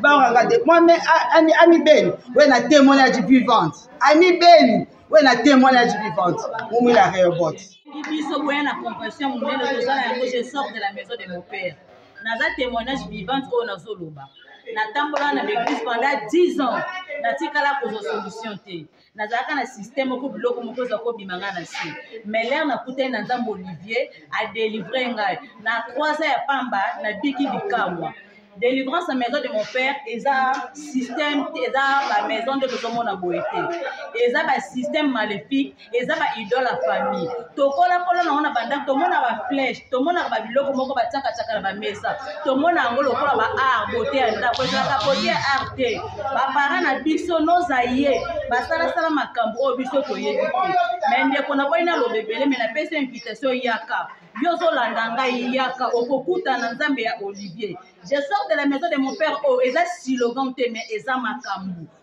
bangaka te moi me ami beni we na témoignage vivante ami beni we na témoignage vivante momi la reobote biso boya na compassion monene toza na yango je sort de la maison de mon père naza témoignage vivante oyo nazoloba natambola na baeglise pendant 10 ans natikala kozwa solution te nazalaka na système moko biloko moko eza kobima ngai na se meler nakutani na nzambe olivier adelivre ngai na 3 ans ya pamba nabiki bikamwa délivrance na maison de mon père eza système eza bamaison nde tozomona boye te eza basystème maléfique eza baidole ya famille tokolakola nango na bandako tomona baflèche tomonaka babiloko moko batiakatiaka na bamesa tomona yango lokola ba art bote ya ndako ezalaka bote ya art te bapara na biso nozaye basalasala makambo oyo biso toyebi te me ndeko na boi naloba ebele me napesi invitation yaka yo ozolanda ngai yaka okokutana nzambe ya olivier je sors de la maison de mon père oyo oh, eza silogan te me eza makambo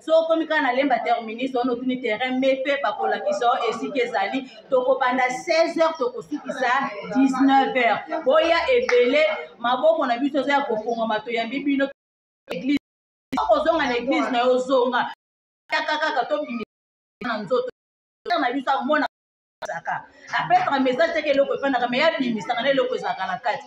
so okomi kaka na lemba terminus ono otuni terrain me mpe bakolakisa o esika ezali tokobanda 16 heures tokosukisa 19 heures boya ebele maboko na biso eza ya kofongama toyambi bino eglise okozonga na eglise na yo ozonga yaka kaka tobimi na nzoto na biso amona apesaka message teke eloko efandaka me yabimisaka na eloko ezalaka na kati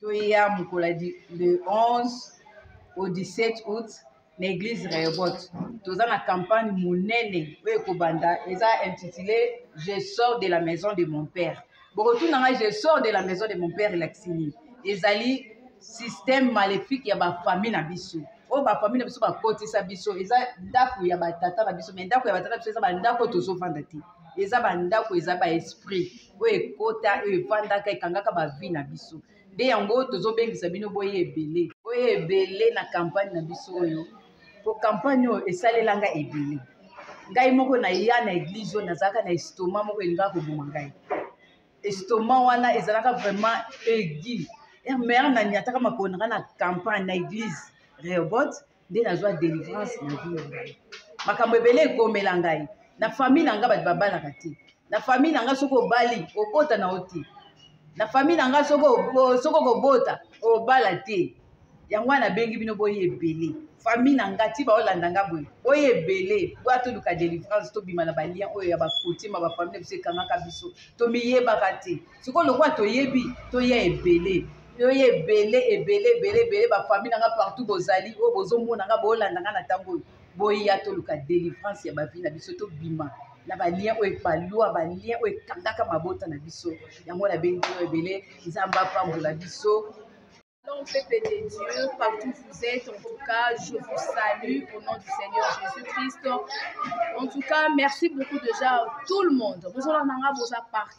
toya mokolo ya le 11 au 17 août na église reobot toza na campagne monene oyo ekobanda eza intitulé je sors de la maison de mon père bokotuna ngai je sors de la maison de mon père elakisi nini ezali système maléfique ya bafamille na biso oyo bafamille na biso bakotisa biso eza ndako ya batata na biso mai ndako ya batata na biso eza bandako tozofanda te eza bandako eza baesprit oyo ekota oyo efandaka ekangaka bavi na biso nde yango tozobengisa bino boye ebele boye ebele na kampagne na biso oyo po kampagne oyo esalelanga ebele ngai moko naya na eglize oyo nazalaka na estoma moko elingaka koboma ngai estoma wana ezalaka vraiment egi eh, mare na nyataka makolo nanga na campagne na eglize reobot nde nazwa delivrance na vie na ngai makambo ebele ekomela ngai na famille na ngai bato babalaka te na famille na ngai soki obali obota na yo te na famille na ngai soki okobota obala te yango wana nabengi bino boye ebele famille na ngai ti baolanda ngai boye boye ebele boya toluka delivrance tobima na balien oyo ya bakotima bafamille na biso ekangaka biso tomiyebaka te sikoyo lokola toyebi toya ebele yo ye ebele ebele ebele ebele bafamille na nga partout bozali oyo bozomona nga boolanda nga na ntango oyo boya toluka délivrance ya bavi na biso tobima na balien oyo epalua balien oyo ekangaka mabota na biso yango nabengi yo ebele nzambe apambola biso Shalom, peuple de Dieu, partout où vous êtes, en tout cas, je vous salue au nom du Seigneur Jésus-Christ. En tout cas, merci beaucoup déjà à tout le monde. Bonjour, Nanga, bonjour, partout.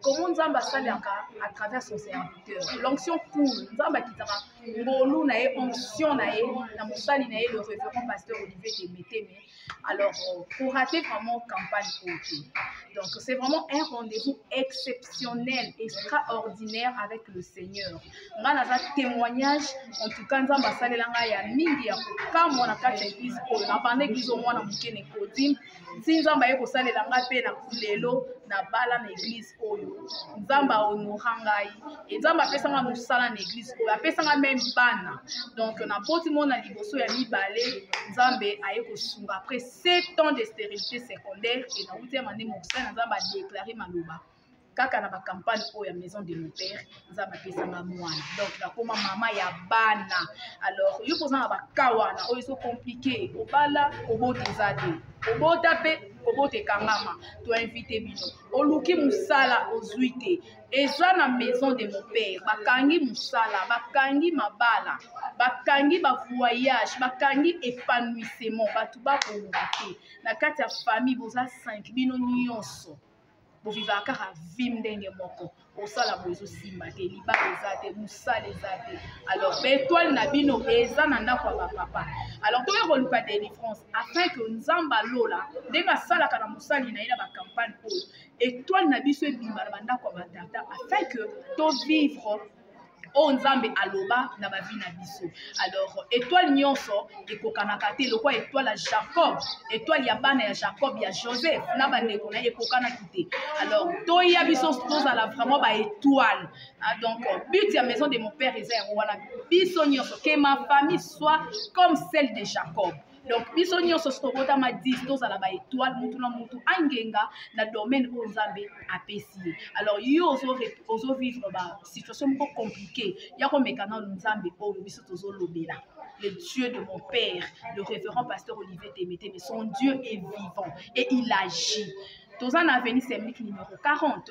comment nzambe asalaka à travers son serviteur l'onction cool nzambe akitaka ngolu na ye onction na ye na mosali na ye le révérend pasteur olivier temeteme alors pour euh, rater vraiment campagne oyo te donc c'est vraiment un rendez-vous exceptionnel extraordinaire avec le seigneur nga naza témoignage en tout cas nzambe asalela ngai ya mingi ya kokamwa na kati ya église oyo na banda église oyo mwana moke na ekodim nti nzambe aye kosalela ngai mpe na lelo nabala na eglize oyo nzambe ahonora ngai e nzambe apesanga mosala na eglize oyo apesanga meme bana donc napoti mona liboso ya mibale nzambe aye kosunga après 7 ans de stérilité secondaire e nauti ya mande mokosala na nzambe adeklare maloba kaka na bacampagne oyo ya maison de mon père nzambe apesanga mwana donc nakoma mama ya bana alors yo mpoza na baka wana oyo ezo komplike obala kobota eza te kobota mpe kobota ekangama toinvite bino oluki mosala ozwi te eza na maison de mon père bakangi mosala bakangi mabala bakangi bavoyage bakangi épanouissement bato bakolonga te na kati ya famille boza 5 bino nyonso bovivaka kaka vi ndenge moko osala boye ezosimba te libala eza te mosala eza te alors baetoile na bino eza na ndako ya bapapa alors toya koluka délivrance afin que nzambe alola ndenge asalaka na mosali na ye na bacampagne oyo etoile na biso ebima na bandako ya batata afin que tovivre oyo nzambe aloba na bavi na biso alors étoile nyonso ekokanaka te lokola étoile ya jacob étoile ya bana ya jacob ya joseph na bandeko na ye ekokanaki te alors toya biso tozala vraiment baétoile ah, donc but ya maison de mon père eza yango wana biso nyonso que ma famille soit comme celle de jacob donc biso nyonso tokotama 10 tozala ba étoile mutu na mutu angenga na domaine oyo nzambe apesi ye alors yo ozovivre ba situation moko compliqué ya komeka nano nzambe oyo biso tozolobela le Dieu de mon père, le révérend pasteur Olivier Témété, mais son Dieu est vivant et il agit. Tozan Avenue Semlik numéro 40.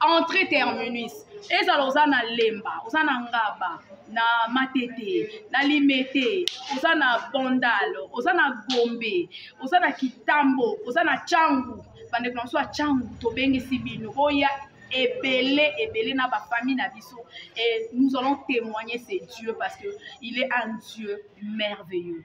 entre terminus ezala oza na lemba oza na ngaba na matete na limete oza na bondal oza na gombe oza na kitambo oza na cangu bandeko na biso ya cangu tobengisi bino boya ebele ebele na bafamille na biso et nous allons témoigner c'est dieu parce que il est un dieu merveilleux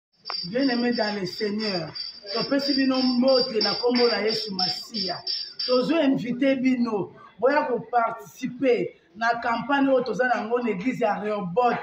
Bien aimé dans le Seigneur, topesi bino mbote na nkombo na Yesu Masiya. Tozo invite bino boya koparticipe na kampanye oyo toza na yango na eglize ya Reobot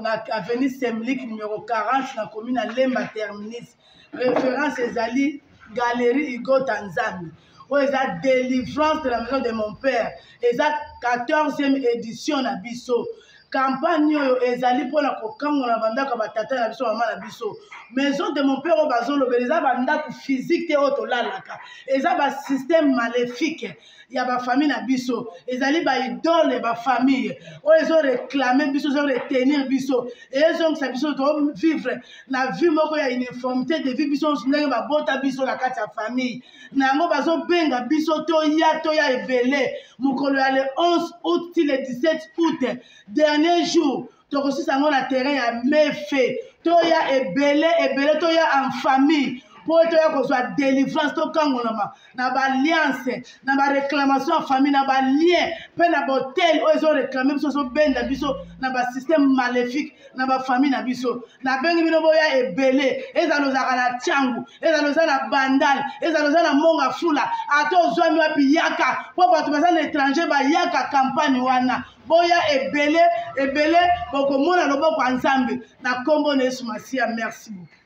na avenue Semlik numero 40 na commune ya Lemba Terminus. Reference ezali Galerie Igota Nzambi. oyo eza délivrance de la maison de mon père eza 14e édition na biso kampagne oyo ezali mpona kokangola bandako ya batata na biso mama na biso maison de mon père oyo bazolobela eza bandako physique te oyo tolalaka eza basystème maléfique ya bafamille na biso ezali baidole ya bafamille oyo ezoreklame biso ezoretenir biso ezongisa biso tovivre na vie moko ya uniformité de vie biso ndenge babota biso na kati ya famille na yango bazobenga biso toya toya ebele mokolo ya le 11 août ti le 17 août dernier jour tokosisa yango na terrain ya mefe toya ebele ebele toya en famille mpo ete oya kozwa délivrance tokangolama na baalliance na baréclamation ya famille na balien mpe na bahotel oyo ezoreklame biso ezobenda biso na basystème maléfique na bafamille na biso nabengi bino boya ebele ezala ozalaka na ntango ezala oza na bandal ezala oza na monga fula ata ozwami wapi yaka mpo bato baza na étranger bayaka kampagne wana boya ebele ebele bokomona loboko ya nzambe na nkombo na yesu masiya merci beaucoup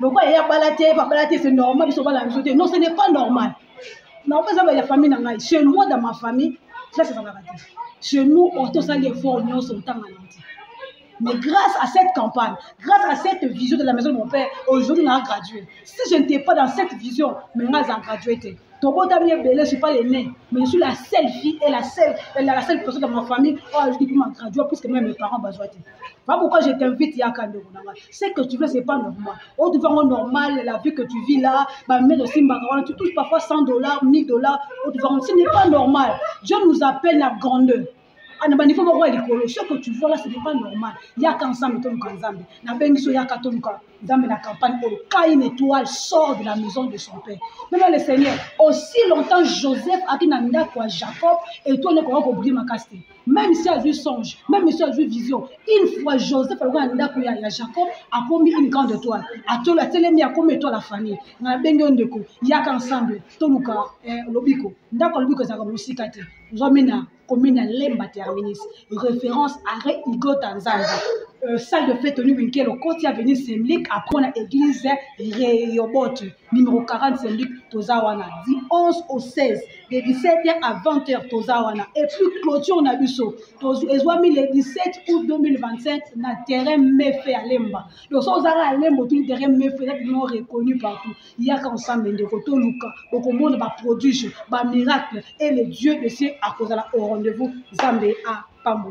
lokola ye abala te babala te c'est normal biso obala na biso te non ce n'est pas normal nao mpe ezaba ya famille na ngai chez moi dans ma famille classe ezalaka te chez nous oh, tosali effort nyonso ntanga na te Mais grâce à cette campagne, grâce à cette vision de la maison de mon père, aujourd'hui on a gradué. Si je n'étais pas dans cette vision, mais on a gradué. Tobo Tamie Belé, je ne suis pas l'aînée, mais je suis la seule fille et la seule, la seule personne dans ma famille. Oh, je dis que je gradué puisque même mes parents ont besoin. Pas pourquoi je t'invite ya kando nanga. Ce que tu veux c'est pas normal. On te vend normal la vie que tu vis là, ba mais aussi mbakarona tu touches parfois 100 dollars, 1000 dollars, on te vend ce n'est pas normal. Dieu nous appelle la grandeur. ana banivo moko ya likolo ce que tu vois là ce n'est pas normal yaka nzambe toluka nzambe nabengi so yaka toluka nzambe na campagne oyo ka une étoile sort de la maison de son père mema le seigneur aussi longtemps joseph aki na ndako ya jacob étoile ekoka kobrima kasi te même si azwi songe même si azwi vision une fois joseph aloko na ndako ya, ya jacob akomi une grande étoile atolo atelemi akomi étoile ya famille nga nabengi yo ndeko yaka ensemble toluka eh, lobiko ndako ya lobiko ezalaka mosika te ozwami na commune ya lemba terminus référence arrêt igota nzambe euh, salle de fête toni winkelo koti avenue semlik apres na église reyobote numéro 40 Saint-Luc toza wana du 11 au 16 de 17h à 20h toza wana et puis clôture na biso ezwami le 17 août 2025 na terrain mefe ya lemba donc so ozaka ya lemba otuni terrain mefe eza bino reconnu partout yaka ensemble ndeko toluka okomona baprodige bamiracle et le dieu de ciel akozala au rendez-vous nzambe apambo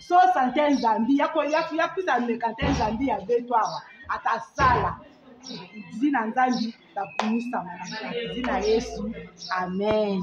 so sante nzambi ya kuta meka te nzambi ya beto awa akasala zina nzambi bakumisama na zina yesu amen